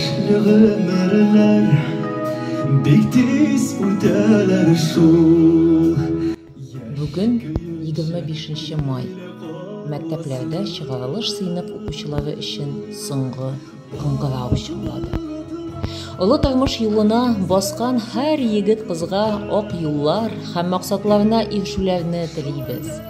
Төшле гомерләр бик тиз үтәләр шул. Бүген, 25 нче май, мәктәпләрдә чыгарылыш сыйныф укучылары өчен соңгы кыңгырау чыңлады. Олы тормыш юлына баскан һәр егет-кызга ак юллар һәм максатларына ирешүләрне телибез.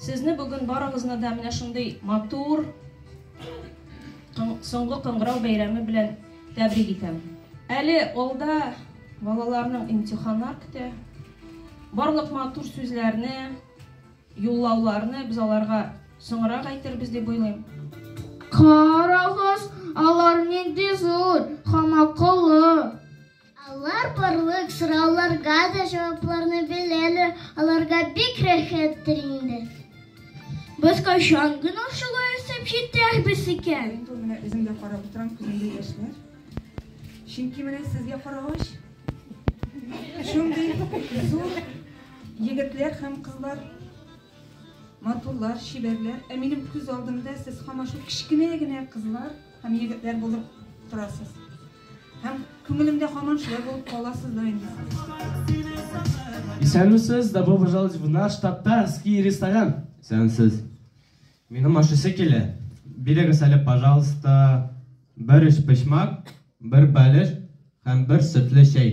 Сезне бүген барыгызны да менә шундый матур соңгы кыңгырау бәйрәме белән тәбрик итәм. Әле алда балаларның имтиханнар көтә. Барлык матур сүзләрне, юллауларны без аларга соңрак әйтербез дип уйлыйм. Карагыз, алар нинди зур һәм акыллы. Алар барлык сорауларга да җавапларны беләләр, аларга бик рәхәттер инде. Без кайчан гына шулай үсеп җитәрбез икән? Мин бу менә үзем дә карап утырам, күземдә яшьләр. Чөнки менә сезгә карагач, шундый зур егетләр һәм кызлар матурлар, чибәрләр. Ә минем күз алдымда сез һаман шул кечкенә генә кызлар һәм егетләр булып торасыз. Һәм күңелемдә һаман шулай булып кала сездә инде. Исәнмесез, добро пожаловать в наш татарский ресторан. Исәнмесез. Минем ашысы килә. Бирегез әле, пожалуйста, бер өч почмак, бер бәлеш һәм бер сөтле чәй.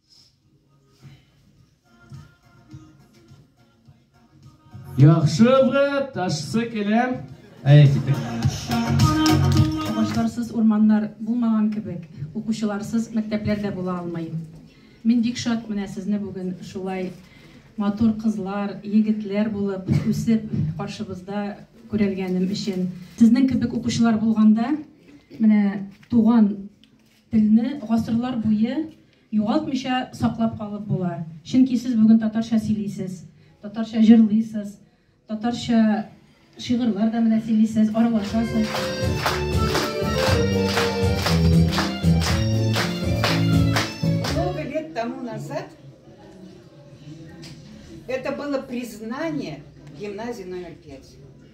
Яхшы брат, ташсы келәм. Әйе, китек. Башларсыз урманнар булмаган кебек, укучыларсыз мәктәпләр дә була алмый. Мин бик шат менә сезне бүген шулай матур кызлар, егетләр булып үсеп каршыбызда күрәлгәнем өчен. Сезнең кебек укучылар булганда, менә туган Телне гасырлар буе югалтмыйча саклап калып була, чөнки сез бүген татарча сөйлисез, татарча җырлыйсыз, татарча шигырьләр дә менә сөйлисез, Много лет тому назад это было признание гимназии номер пять.